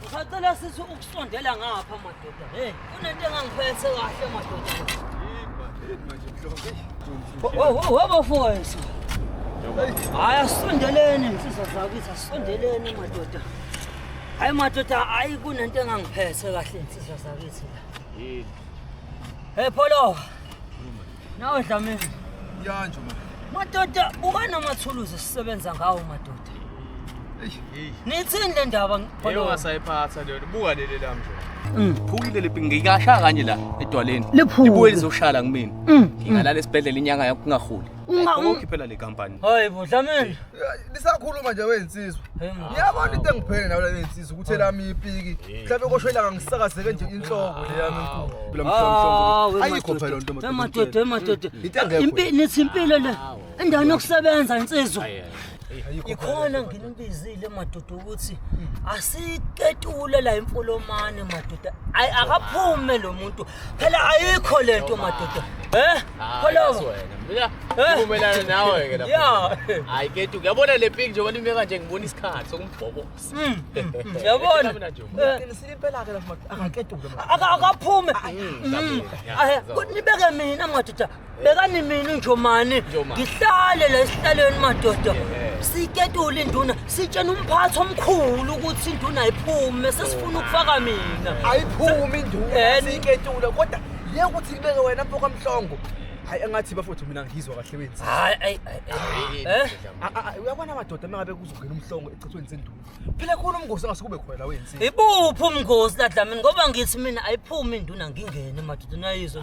Ngisacela sisi ukusondela ngapha madoda. Hey, kunento engangiphethe kahle madoda. Wabo mfowethu. Hayi asondeleni insizwa zakithi asondeleni madoda. Hayi madoda hayi kunento engangiphethe kahle insizwa zakithi. Yini? Hey Polo. Nawe Dlamini. Yanje manje. Madoda ubani amathuluzi esisebenza ngawo madoda? Hey. Nithini le ndaba ngibhalo. Yebo ngasayiphatha leyo. Buka leli la mnje. Mm. Phukile lepi ngikasha kanye la edwaleni. Libuye lizoshala kumina. Mm. Ngingalala esibhedlela inyanga yakho kungaholi. Ungakhiphela le company. Hayibo Dlamini. nisakhuluma nje wey'nsizwa ngiyabona into engiphele nayo leyo insizwa ukuthi elami ipiki mhlawumbe kosho ilanga ngisakazeke nje inhloko leyami ayikho phela nto emadoda emadoda nithi impilo le endaweni yokusebenza insizwa ikhona nginibizile madoda ukuthi asitetule la imfolomane madoda akaphume lo muntu phela ayikho le nto madoda Eh? Kholomo. Mina ngivumelana nawe ke lapho. Yeah. Hayi ketu uyabona le pink njengoba nime kanje ngibona isikhathi sokumbhobosa. Mm, mm, mm. Uyabona? Ngiqinisile impela ke lapho akaketuke. Akaphume. Nibeke mina madoda. bekani mina unjomani ngihlale la esihlalweni madoda siketule induna sitshena umphathi omkhulu ukuthi induna ayiphume sesifuna ukufaka mina ayiphume induna Eh, ni- siketule kodwa le ukuthi kubeke wena mfo kamhlongo hayi engathi bafowethu mina ngizwa kahle wenzi hayi ayi ayi eh A- a- a- uyabona amadoda uma ngabe kuzongena umhlongo echithweni senduna phela khona umngosi angase kube khona la wenzi ibuphi umngozi ladlamini ngoba ngithi mina ayiphume induna ngingene madoda nayizwa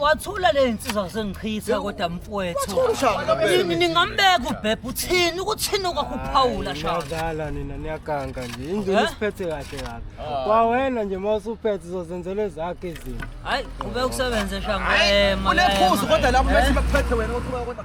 wathula le nsizwa kusengichitha kodwa mfowethu ningambeka ubhebha uthini ukuthini kwakho uphawula shazala nina niyaganga nje indlela isiphethe eh? kahle kabi ah. kwawena nje uma usuphethe uzozenzela ezakhe izinto hayi ube ukusebenze shangwema unephuzu kodwa lapho bese bakuphethe wena uthi kodwa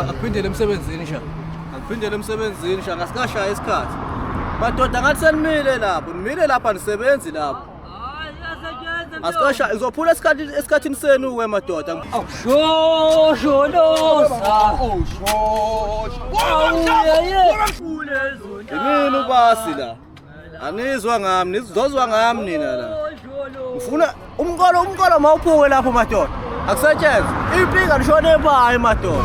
akuphindele emsebenzini sha akuphindele emsebenzini sha ngasikashaya isikhathi madoda ngathi senimile lapho nimile lapha nisebenzi lapho Asikasha izophula isikhathi esikhathini senu we madoda. Awushosholosa. Yini ubasi la? Anizwa ngami, nizozwa ngami nina la. Ngifuna umqolo umqolo mawuphuke lapho madoda. Akusetshenzwe. Ipika lishone ebayo madoda.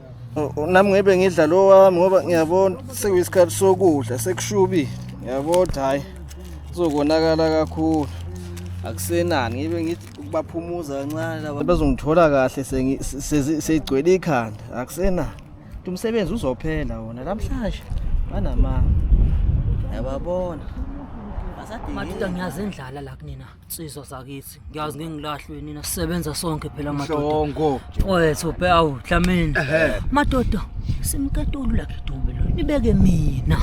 nami ngebe ngidla lo wami ngoba ngiyabona sekuyisikhathi sokudla sekushubile ngiyabona hhayi kuzokonakala kakhulu akusenani ngibe ngithi ukubaphumuza kancane laba bazongithola kahle seyigcwele ikhanda akusenani ukuthi umsebenzi uzophela wona namhlanje banamanga yababona madoda ngiyazendlala la kunina Sizwa sakithi. Ngiyazi ngeke ngilahlwe nina sisebenza sonke phela madoda. Mhlongo. Mfowethu bhe awu Dlamini. Ehhe. Madoda simketulu la Kedube lo. Nibeke mina.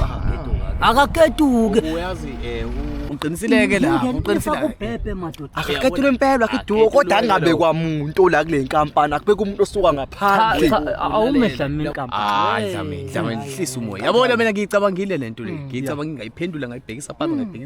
Akaketuke. uyazi eh uqinisileke la Ngingena uqinisileke kubhebhe madoda. Akakhethelwe impela akiduwo kodwa angabe kwamuntu la kule nkampani akubeka umuntu osuka Cha, ngaphandle. cha, Awume Dlamini hayi kampani. dlamini dlamini hlisa umoya yabona mina ngiyicabangile lento le ngiyicabanga ngingayiphendula ngayibhekisa phansi ngayibhekisa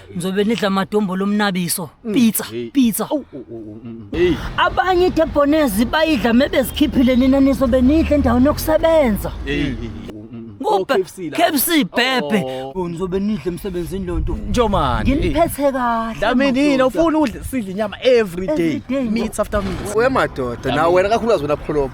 ngizobe nidla amadombolo omnabiso mm. pizza pizza oh, oh, oh, mm, mm. abanye idebhonezi bayidla mebezikhiphile nina nizobe nidla endaweni yokusebenza KFC bhebhe ngizobe nidle emsebenzini lo nto njomani nginiphethe kahle daminini ufuna udle sidle inyama every day meat after meat wemadoda nawe wena kakhulukazi wena pholobo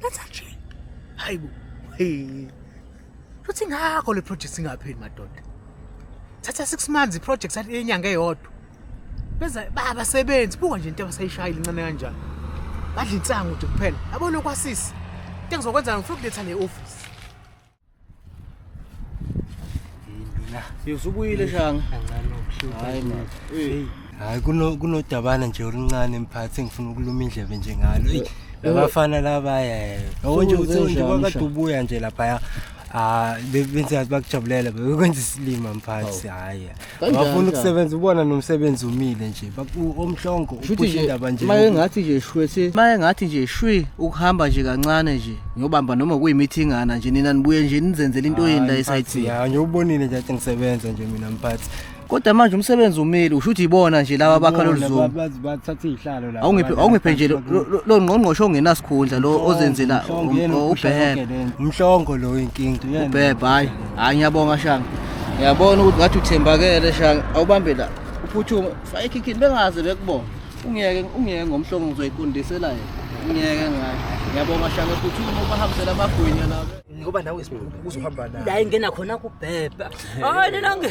That's actually. Hayi bo. Hey. Futhi ngakho le project singapheli madoda. Thatha 6 months i project athi enyanga eyodwa. Benza baba sebenzi buka nje into abasayishayile incane kanjani. Badla insangu nje kuphela. Yabona kwasisi. Into engizokwenza ngifuna ukuletha le office. usubuyile shanga hayi kunodabana nje oluncane mphathi engifuna ukuluma indlebe nje ngalo eyi labafana labaya eh. yabo nje ukuthi nje kwakade ubuya nje laphaya um benze bakujabulela bekwenza isilima mphathi hhayi Kanjani Bafuna kanjani? ukusebenza ubona nomsebenzi umile nje. Baku omhlongo Shuthi uphusha nje indaba nje. maye ngathi nje shwe se maye ngathi nje shwi ukuhamba nje kancane nje ngiyobamba noma kuyimithingana nje nina nibuye nje nizenzele into yeni la esayithini Ya nje ubonile nje athi ngisebenza nje mina mphathi. kodwa manje umsebenzi umile usho ukuthi ibona nje laba bakha lolu zuma Bazi bathatha izihlalo la. awungiphe awungiphe nje lo- lo- lo- lo ngqongqoshe ongenasikhundla lo ozenzela um- ubhebe Umhlongo lo inkinga. ubhebe hayi Hayi ngiyabonga Shanga. Ngiyabona ukuthi ngathi uthembakele Shanga. Awubambe la. Uphuthume. Fake ikhikhini bengaze bekubona. Ungiyeke ungiyeke ngomhlongo ngizoyiqondisela yena. Ungiyeke ngayo. Ngiyabonga Shanga uphuthume ubahambisela amagwinya la. Ngoba nawe sibuku uzohamba naye. La ingena khona kubhebha. Hayi nina nge.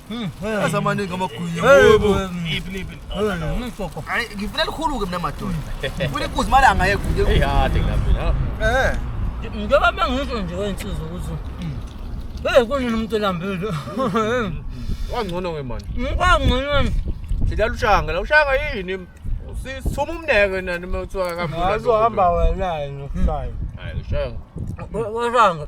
Yazi amaningi amagwinya. Yebo. Iphi niphi. Ngisoko. Hayi ngifuna likhulu ke mina madoda. Ufuna inkuzi imali angayeguye. Hey hade ngilambile. Eh. Njengoba mangisho nje wensizwa ukuthi Hey kunini umuntu elambile. Wangcono ke manje. Ngikangcono. Sidlala ushanga, la ushanga yini? Sithuma umneke nani uma kuthiwa kambi. Hayi uhamba wena yini ushaya. Hayi ushanga. Washanga.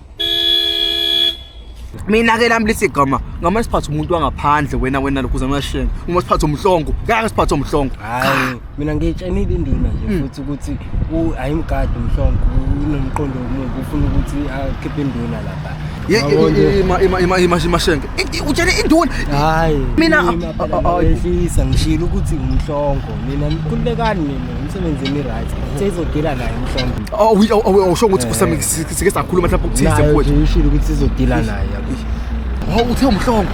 mina ke lami lithi gama ngama siphathe umuntu wangaphandle wena wena lokhu uzama shenga uma siphathe umhlongo ngeke siphathe umhlongo hayi mina ngitshenile indima nje hmm. futhi ukuthi ayimgadi umhlongo unomqondo omubi ufuna ukuthi akhiphe induna lapha imashenke utshele induna hayi mina ehlisa ngishilo ukuthi umhlongo mina nikhululekani mina umsebenzini right seyizogila naye umhlongo awusho ukuthi eh. Si- sike sakhuluma mhlawumbe ukuthize nayo mfowethu nje ishilo ukuthi sizodila naye yabo hawu uthe umhlongo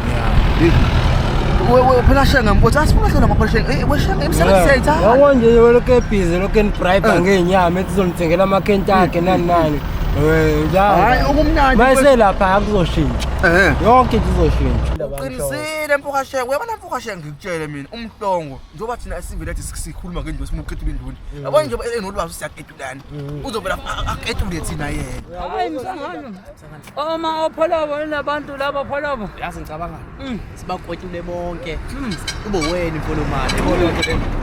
wewe phela shenge mfowethu asifuna hlona maphola shenge Eh, we shenge imisebenzi siyayithanda yabo nje weloke ebhizi loke nibribe Eh. ngenyama ethi uzonithengela amakhenti akhe nani nani Eh, njalo. hayi okumnandi mfowethu. mayiselapha akuzoshintsha Eh. yonke into izoshintsha qinisile mfoka shenge uyabona mfoka shenge ngikutshele mina umhlongo njengoba thina esivele athi sikhuluma ngendlu esimuqedule induni mm. yabona njengoba enolwazi usiyaqedulana mm. uzovela aqedule thina yena hayi msangano oma opholobo nabantu labo pholobo yazi ngicabanga mm. sibakwetule bonke kube wena imfolomane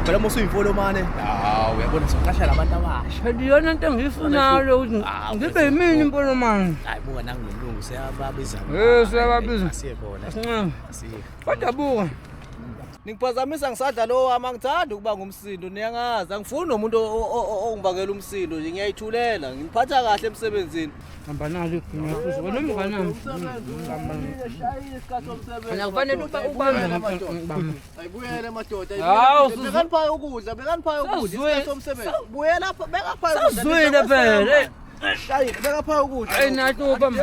phela uma usuyimfolomane hawu uyabona soqasha labantu abasha phela iyona into engiyifunayo lo ukuthi ngibe yimini imfolomane hayi buka nangilungu siyababiza eh siyababiza siye khona kodwa buka Ningiphazamisa ngisadla lo wami angithandi ukuba ngumsindo niyangazi angifuni nomuntu ongibangela umsindo nje ngiyayithulela ngiphatha kahle emsebenzini hamba nalo ngiyafuza wena umnganami akufanele uba ubambe madoda ayibuyele madoda hawu bekaniphaye ukudla bekaniphaye ukudla isikhathi somsebenzi buyela bekaphaye ukudla sazwile phela shayile bekaphaye ukudla ayinathi ubambe